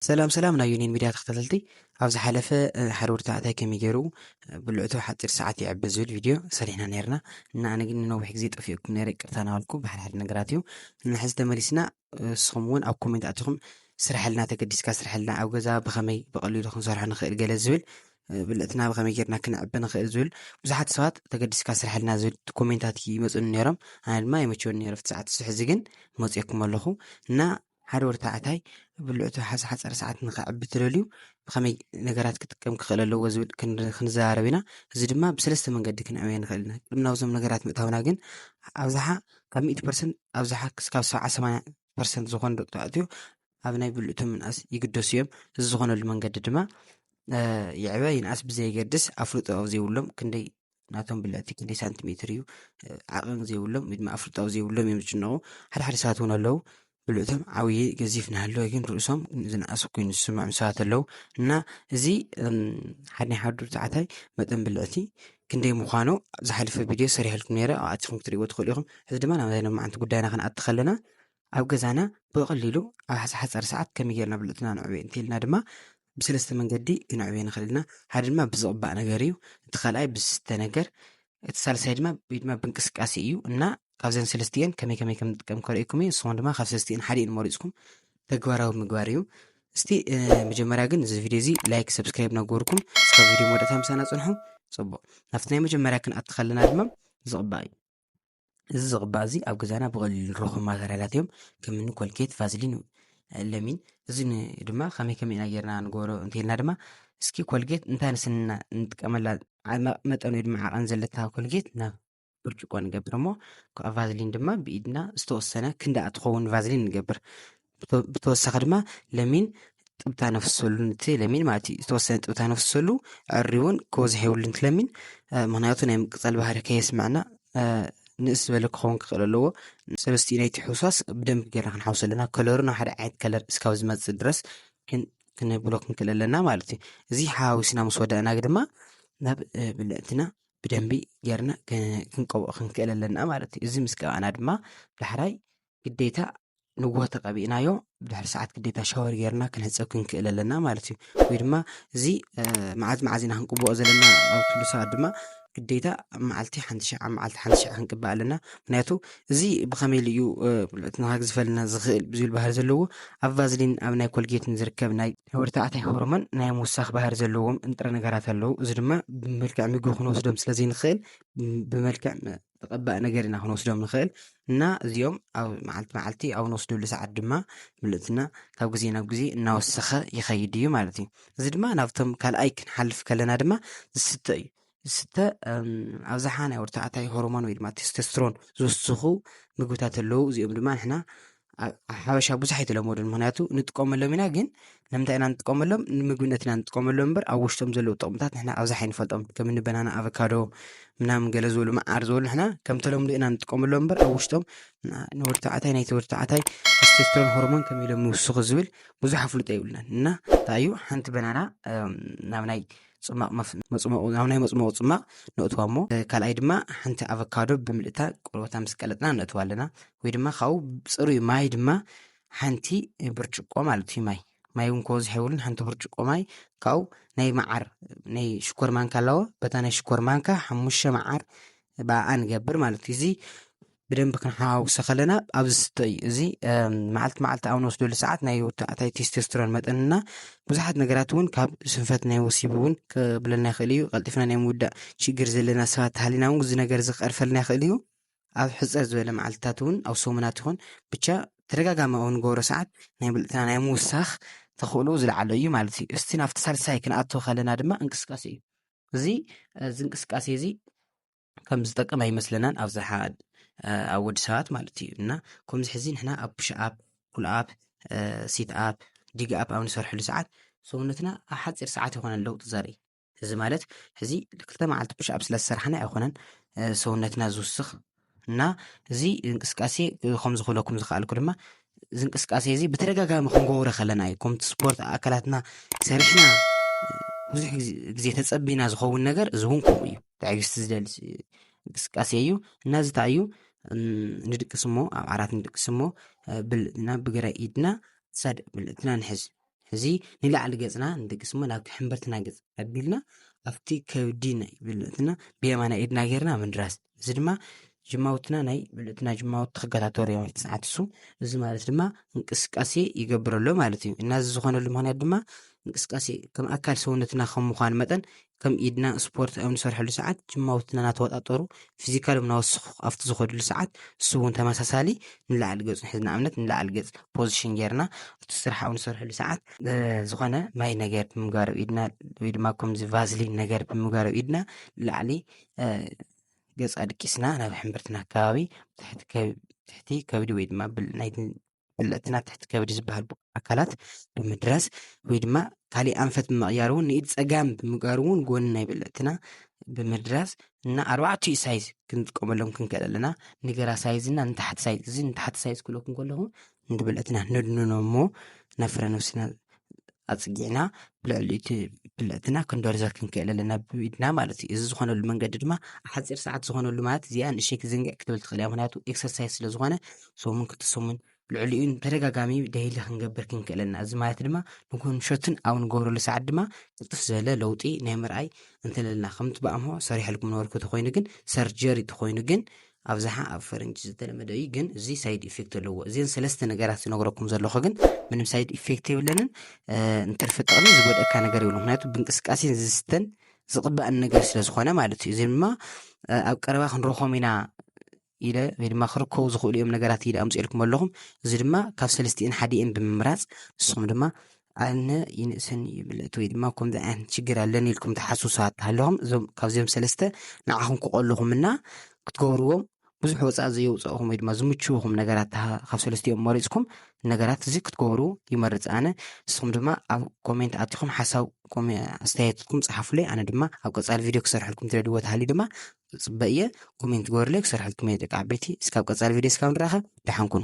ሰላም ሰላም ናይ ዩኒን ሚድያ ተኸታተልቲ ኣብ ዝሓለፈ ሓደ ወዲ ተባዕታይ ከመይ ገይሩ ብልዕቱ ሓፂር ሰዓት ይዕበ ዝብል ቪድዮ ሰሪሕና ነርና እና ኣነ ግን ንነዊሕ ግዜ ጠፊኡኩም ነረ ቅርታ ናበልኩ ብሓደ ሓደ ነገራት እዩ እና ሕዚ ተመሊስና ንስኹም እውን ኣብ ኮሜንት ኣትኹም ስራሕልና ተገዲስካ ስራሕልና ኣብ ገዛ ብኸመይ ብቐሊሉ ክንሰርሖ ንኽእል ገለ ዝብል ብልዕትና ብኸመይ ጌርና ክንዕበ ንኽእል ዝብል ብዙሓት ሰባት ተገዲስካ ስራሕልና ዝብል ኮሜንታት ይመፁኒ ነይሮም ኣነ ድማ ይመቸወኒ ነይሩ ፍቲ ሰዓት ሕዚ ግን መፅኦኩም ኣለኹ እና ሓደ ወዲ ተባዕታይ ብልዑ ሓፀረ ሰዓት ንኸዕቢ ትደልዩ ብኸመይ ነገራት ክጥቀም ክኽእል ኣለዎ ዝብል ክንዘራረብ ኢና እዚ ድማ ብሰለስተ መንገዲ ክንዕበየ ንኽእል ኢና ቅድሚ ናብዞም ነገራት ምእታውና ግን ኣብዝሓ ካብ ሚእቲ ፐርሰንት ኣብዝሓ ክስካብ ሰብዓ ሰማንያ ፐርሰንት ዝኾኑ ደቂ ተባዕትዮ ኣብ ናይ ብልዑ ምንኣስ ይግደሱ እዮም እዚ ዝኾነሉ መንገዲ ድማ ይዕበ ይንኣስ ብዘየገድስ ኣፍልጦ ኣብ ዘይብሎም ክንደይ ናቶም ብላቲ ክንደይ ሳንቲሜትር እዩ ዓቐን ዘይብሎም ወይ ድማ ኣፍልጣዊ ዘይብሎም እዮም ዝጭነቑ ሓደ ሓደ ሰባት እውን ኣለዉ ብልእቶም ዓብዪ ገዚፍ ናሃለወ ግን ርእሶም ዝነኣሱ ኮይኑ ዝስምዖም ሰባት ኣለዉ እና እዚ ሓደ ናይ ሓዱር ተዓታይ መጠን ብልዕቲ ክንደይ ምዃኑ ዝሓለፈ ቪድዮ ሰሪሐልኩም ነይረ ኣብ ኣትኹም ክትሪእዎ ትኽእሉ ኢኹም እዚ ድማ ናብ ናይ መዓንቲ ጉዳይና ክንኣቲ ከለና ኣብ ገዛና ብቐሊሉ ኣብ ሓፃር ሰዓት ከመይ ጌርና ብልዕትና ንዕበ እንተይልና ድማ ብሰለስተ መንገዲ ክንዕብዮ ንኽእል ኢና። ሓደ ድማ ብዝቕባእ ነገር እዩ፣ እቲ ካልኣይ ብዝስተ ነገር፣ እቲ ሳልሳይ ድማ ወይ ድማ ብእንቅስቃሴ እዩ እና ካብዘን ሰለስቲኤን ከመይ ከመይ ከም ንጥቀም ከርእየኩም እዩ። ንስኹም ድማ ካብ ሰለስቲኤን ሓዲኤን መሪፅኩም ተግባራዊ ምግባር እዩ። እስቲ መጀመርያ ግን እዚ ቪድዮ እዚ ላይክ ሰብስክራይብ እናገበርኩም እስካብ ቪድዮ መወዳእታ ምሳና ፅንሑ። ፅቡቕ ናብቲ ናይ መጀመርያ ክንኣቲ ከለና ድማ ዝቕባእ እዩ። እዚ ዝቕባእ እዚ ኣብ ገዛና ብቐሊሉ ንረኽቦም ማተርያላት እዮም ከም እኒ ኮልጌት ቫዝሊን ለሚን እዚ ድማ ከመይ ከመይ ኢና ጌርና ንገብሮ እንተይልና ድማ እስኪ ኮልጌት እንታይ ንስንና ንጥቀመላ መጠን ወይ ድማ ዓቐን ዘለታ ኮልጌት ናብ ብርጭቆ ንገብር እሞ ቫዝሊን ድማ ብኢድና ዝተወሰነ ክንዳኣ ትኸውን ቫዝሊን ንገብር ብተወሳኺ ድማ ለሚን ጥብታ ነፍሰሉ ንቲ ለሚን ማለት እዩ ዝተወሰነ ጥብታ ነፍሰሉ ዕሪውን ክወዝሕ የብሉ ንቲ ለሚን ምክንያቱ ናይ ምቅፃል ባህሪ ከየስምዐና ንእስ ዝበለ ክኸውን ክኽእል ኣለዎ ሰለስትኡ ናይቲ ሕውስዋስ ብደንብ ጌርና ክንሓውስ ኣለና ከለሩ ናብ ሓደ ዓይነት ከለር እስካብ ዝመፅእ ድረስ ክንብሎ ክንክእል ኣለና ማለት እዩ እዚ ሓዋዊስና ምስ ወዳእና ድማ ናብ ብልዕትና ብደንቢ ጌርና ክንቀብኦ ክንክእል ኣለና ማለት እዩ እዚ ምስ ቀባእና ድማ ዳሕራይ ግዴታ ንጉሆ ተቐቢእናዮ ብድሕሪ ሰዓት ግዴታ ሻወር ጌርና ክንሕፀብ ክንክእል ኣለና ማለት እዩ ወይ ድማ እዚ መዓዝ መዓዝ ኢና ክንቅብኦ ዘለና ኣብ ትብሉ ሰባት ድማ ግዴታ ኣብ መዓልቲ ሓንቲ ሸዓ መዓልቲ ሓንቲ ሸዓ ክንቅባእ ኣለና ምክንያቱ እዚ ብኸመይ ኢሉ እዩ ብልዕትና ከግዝፈልና ዝኽእል ብዝብል ባህሪ ዘለዎ ኣብ ቫዝሊን ኣብ ናይ ኮልጌትን ዝርከብ ናይ ወዲ ተባዕታይ ሆርሞን ናይ ምውሳኽ ባህሪ ዘለዎም ንጥረ ነገራት ኣለዉ እዚ ድማ ብመልክዕ ምግቢ ክንወስዶም ስለ ዘይንኽእል ብመልክዕ ተቐባኢ ነገር ኢና ክንወስዶም ንኽእል እና እዚኦም ኣብ መዓልቲ መዓልቲ ኣብ ንወስደሉ ሰዓት ድማ ምልእትና ካብ ግዜ ናብ ግዜ እናወሰኸ ይኸይድ እዩ ማለት እዩ እዚ ድማ ናብቶም ካልኣይ ክንሓልፍ ከለና ድማ ዝስተ እዩ ዝስተ ኣብዝሓ ናይ ወርተዓታይ ሆርሞን ወይ ድማ ቴስቴስትሮን ዝወስኹ ምግብታት ኣለዉ እዚኦም ድማ ንሕና ሓበሻ ብዙሕ ኣይተለመዱን ምክንያቱ ንጥቀመሎም ኢና ግን ንምንታይ ኢና ንጥቀመሎም ንምግብነት ኢና ንጥቀመሎም እምበር ኣብ ውሽጦም ዘለዉ ጥቕምታት ንሕና ኣብዝሓ ኣይንፈልጦም ከም እኒ በናና ኣቨካዶ ምናምን ገለ ዝበሉ መዓር ዝበሉ ንሕና ከም ተለምዶ ኢና ንጥቀመሎም እምበር ኣብ ውሽጦም ንወዲ ተባዕታይ ናይቲ ወዲ ተባዕታይ ቴስቶስትሮን ሆርሞን ከመይ ኢሎም ይውስኹ ዝብል ብዙሕ ኣፍልጦ የብልናን እና እንታይ እዩ ሓንቲ በናና ናብ ናይ ፅማቕ መፅሞቑ ናብ ናይ መፅሞቑ ፅማቕ ነእትዋ እሞ ካልኣይ ድማ ሓንቲ ኣቨካዶ ብምልእታ ቆርበታ ምስ ቀለጥና ነእትዋ ኣለና ወይ ድማ ካብኡ ፅሩይ ማይ ድማ ሓንቲ ብርጭቆ ማለት እዩ ማይ ማይ እውን ከወዝሕ የብሉን ሓንቲ ብርጭቆ ማይ ካብኡ ናይ መዓር ናይ ሽኮር ማንካ ኣለዎ በታ ናይ ሽኮር ማንካ ሓሙሽተ መዓር ብኣኣ ንገብር ማለት እዩ እዚ ብደንቢ ክንሓዋውሶ ከለና ኣብ ዝስተ እዩ እዚ መዓልቲ መዓልቲ ኣብ ንወስደሉ ሰዓት ናይ ወታዕታይ ቴስቴስትሮን መጠንና ብዙሓት ነገራት እውን ካብ ስንፈት ናይ ወሲብ እውን ክብለና ይኽእል እዩ ቀልጢፍና ናይ ምውዳእ ሽግር ዘለና ሰባት ተሃሊና እውን እዚ ነገር እዚ ክቐርፈልና ይኽእል እዩ ኣብ ሕፀር ዝበለ መዓልትታት እውን ኣብ ሰሙናት ይኹን ብቻ ተደጋጋሚ ኣብ ንገብሮ ሰዓት ናይ ብልዕትና ናይ ምውሳኽ ተኽእሎ ዝለዓለ እዩ ማለት እዩ እስቲ ናብቲ ሳልሳይ ክንኣቶ ከለና ድማ እንቅስቃሴ እዩ እዚ እዚ እንቅስቃሴ እዚ ከም ዝጠቅም ኣይመስለናን ኣብዝሓ ኣብ ወዲ ሰባት ማለት እዩ እና ከምዚ ሕዚ ንሕና ኣብ ፑሽኣፕ ኩልኣፕ ሲትኣፕ ዲግኣፕ ኣብ ንሰርሐሉ ሰዓት ሰውነትና ኣብ ሓፂር ሰዓት ይኮነ ለውጢ ዘርኢ እዚ ማለት ሕዚ ክልተ መዓልቲ ፑሽኣፕ ስለ ዝሰራሕና ኣይኮነን ሰውነትና ዝውስኽ እና እዚ እንቅስቃሴ ከምዚ ክብለኩም ዝክኣልኩ ድማ እዚ እንቅስቃሴ እዚ ብተደጋጋሚ ክንገብሮ ከለና እዩ ከምቲ ስፖርት ኣካላትና ሰሪሕና ብዙሕ ግዜ ተፀቢና ዝኸውን ነገር እዚ እውን ከምኡ እዩ ትዕግስቲ ዝደሊ እንቅስቃሴ እዩ እና እዚ እንታይ እዩ ንድቅስ እሞ ኣብ ዓራት ንድቅስ እሞ ብልትና ብግራይ ኢድና ሳድ ብልትና ንሕዝ እዚ ንላዕሊ ገፅና ንድቅስ እሞ ናብ ሕምበርትና ገፅ ኣቢልና ኣብቲ ከብዲ ናይ ብልትና ብየማና ኢድና ጌርና ምድራስ እዚ ድማ ጅማውትና ናይ ብልትና ጅማውቲ ክከታተሉ እዮም ትስዓት እሱ እዚ ማለት ድማ እንቅስቃሴ ይገብረሎ ማለት እዩ እና እዚ ዝኾነሉ ምክንያት ድማ እንቅስቃሴ ከም ኣካል ሰውነትና ከም ምዃን መጠን ከም ኢድና ስፖርት ኣብ ንሰርሐሉ ሰዓት ጅማውትና እናተወጣጠሩ ፊዚካሎም እናወስኹ ኣብቲ ዝኸድሉ ሰዓት እሱ እውን ተመሳሳሊ ንላዕሊ ገፅ ንሕዝ ንኣብነት ንላዕሊ ገፅ ፖዚሽን ጌርና እቲ ስራሕ ኣብ ንሰርሐሉ ሰዓት ዝኾነ ማይ ነገር ብምጋር ኣብ ኢድና ወይ ድማ ከምዚ ቫዝሊን ነገር ብምጋር ኣብ ኢድና ንላዕሊ ገፅ ኣድቂስና ናብ ሕምብርትና ኣካባቢ ትሕቲ ከብዲ ወይ ድማ ብል ናይ በለፅቲ ናብ ትሕቲ ከብዲ ዝበሃል ኣካላት ብምድራስ ወይ ድማ ካሊእ ኣንፈት ብምቕያር እውን ንኢድ ፀጋም ብምግባር እውን ጎኒ ናይ በለፅትና ብምድራስ እና ኣርባዕቲኡ ሳይዝ ክንጥቀመሎም ክንክእል ኣለና ንግራ ሳይዝ እና ንታሕቲ ሳይዝ እዚ ንታሕቲ ሳይዝ ክብለኩም ከለኹ ንበለፅትና ነድንኖ እሞ ናብ ፍረ ነብስና ኣፅጊዕና ብልዕሊ እቲ ብልዕትና ክንደርዘር ክንክእል ኣለና ብኢድና ማለት እዩ እዚ ዝኾነሉ መንገዲ ድማ ሓፂር ሰዓት ዝኾነሉ ማለት እዚኣ ንእሸይ ክትዝንግዕ ክትብል ትኽእል እያ ምክንያቱ ኤክሰርሳይዝ ስለ ዝኾነ ሰሙን ክልተ ሰሙን ልዕሊኡ ተደጋጋሚ ደይሊ ክንገብር ክንክእል ኣለና እዚ ማለት ድማ ንኮንሸትን ኣብ ንገብረሉ ሰዓት ድማ ቅልጥፍ ዝበለ ለውጢ ናይ ምርኣይ እንተለና ከምቲ ብኣምሆ ሰሪሐልኩም ነበርኩ ተኮይኑ ግን ሰርጀሪ ተኮይኑ ግን ኣብዝሓ ኣብ ፈረንጂ ዝተለመደ እዩ ግን እዚ ሳይድ ኢፌክት ኣለዎ እዚን ሰለስተ ነገራት ዝነግረኩም ዘለኹ ግን ምንም ሳይድ ኢፌክት የብለንን እንትርፊ ጥቕሚ ዝጎድእካ ነገር የብሉ ምክንያቱ ብእንቅስቃሴን ዝስተን ዝቕባእን ነገር ስለ ዝኾነ ማለት እዩ እዚ ድማ ኣብ ቀረባ ክንረኾም ኢና ኢለ ወይ ድማ ክርከቡ ዝኽእሉ እዮም ነገራት ኢለ ኣምፅኤልኩም ኣለኹም እዚ ድማ ካብ ሰለስትኤን ሓዲኤን ብምምራፅ ንስኹም ድማ ኣነ ይንእሰኒ እዩ ምልእቲ ወይ ድማ ከምዚ ዓይነት ሽግር ኣለኒ ኢልኩም ትሓሱ ሰባት ተሃለኹም እዞም ካብዚኦም ሰለስተ ንዓኹም ክቐልኹም እና ክትገብርዎም ብዙሕ ወፃእ ዘየውፀእኹም ወይ ድማ ዝምችውኹም ነገራት ካብ ሰለስቲኦም መሪፅኩም ነገራት እዚ ክትገብሩ ይመርፅ ኣነ ንስኹም ድማ ኣብ ኮሜንት ኣትኹም ሓሳብ ኣስተያየትኩም ፀሓፉለይ ኣነ ድማ ኣብ ቀፃሊ ቪድዮ ክሰርሐልኩም ትደልዎ ተሃልዩ ድማ ፅበ እየ ኮሜንት ገበሩለይ ክሰርሐልኩም እየ ደቂ ዓበይቲ እስካብ ቀፃሊ ቪድዮ እስካብ ንራኸብ ደሓን ኩኑ